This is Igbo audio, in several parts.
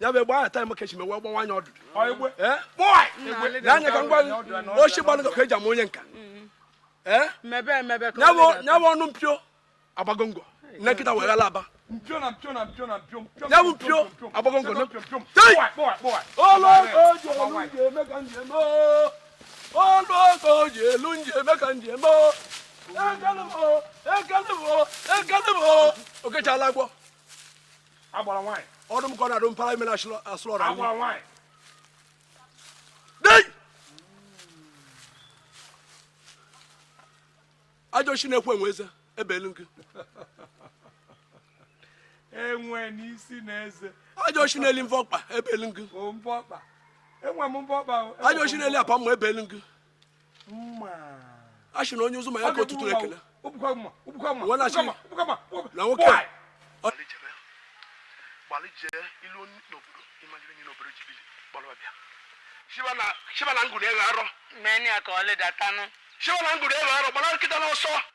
ya bụ egbe ahụ taịm kechi mewe gbawa anya ọdụdụ n'anya ka m gwa gị ochi gbalụ ka eji ama onye nka ya bụ ọnụ mpio agbagongo na nkịta wee ghala aba ya bụ mpio agbagongo ọnụ ọkọ ji elu nji eme ka nji eme ekelebo ekelebo ekelebo okechala agwọ agbara nwaanyị ọdụ m ka ọ na-adụ mpara ime na asụrụ ọrụ agbara nwaanyị ajọ chi na-ekwe enwe eze ebe elu gị enwe n'isi na eze ajọ chi na-eli mvọ ọkpa ebe elu gị enwe m mvọ ọkpa ajọ chi na-eli apa mma ebe elu gị a sị na onye ụzụ ma ya ka ọtụtụ ekele na nwoke a shibana ngụrụ ego arọ shibana ngụrụ ego arọ gbara nkịta n'ọsọ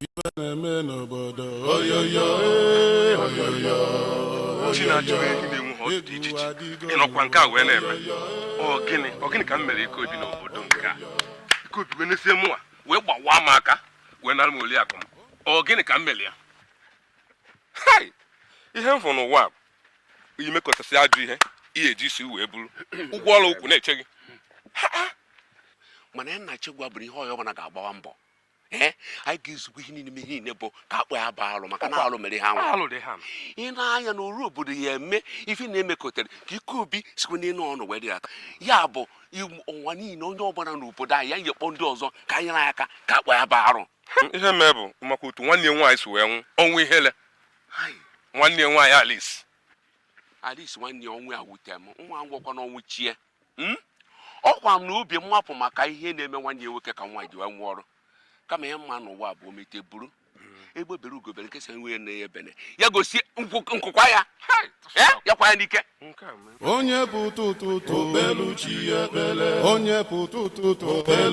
ife na-eme n'obodo oyoyo ee, oyoyo chi na-achụ gị gị na-enwe ha dị iche iche ịnọkwa nke a wee na-eme ọ gịnị ọ gịnị ka m mere Ikeobi n'obodo nke a Ikeobi wee nesie mụnwa wee gbawaa m aka wee nara m oliakụ m ọ gịnị ka m mere ya hai ihe m fụrụ n'ụwa bụ imekọtasị ajọ ihe ihe i ji isi wee buru ụgwọ ọrụ ukwu na-eche gị mana ya nna chegwa bụrụ ihe onye ọbụla ga-agbawa mbọ ee anyị ga-ezugbo ihe niile ihe niile bụ ka akpọ ya baa alụ maka na alụ mere ha nwa ị na-anya na oru obodo ya eme ife na-emekọtara ka Ikeobi sikwa n'elu ọnụ wee dịghata ya bụ ụwa niile onye ọbụla n'obodo anyị ya nyekpọ ndị ọzọ ka nyere anyị aka ka akpọ ya baa arụ ihe mee bụ maka otu nwanne ya nwaanyị si wee nwụọ ọnwụ ihele nwanne ya nwaanyị Alice Alice nwanne ya ọnwụ ya wute m nwa ngwọkwa n'ọnwụ chi ya Hmm? ọ kwa m na obi mmapụ maka ihe na-eme nwanne ya nwoke ka nwa ji wee nwụọ ọrụ kama ihe m ma n'ụwa bụ omete buru egbe bere ugo bere nke sị nwanne ya ebene ya gosi nku kwaa ya ya kwaa ya n'ike onye pụta ụtụtụ onye pụta ụtụtụ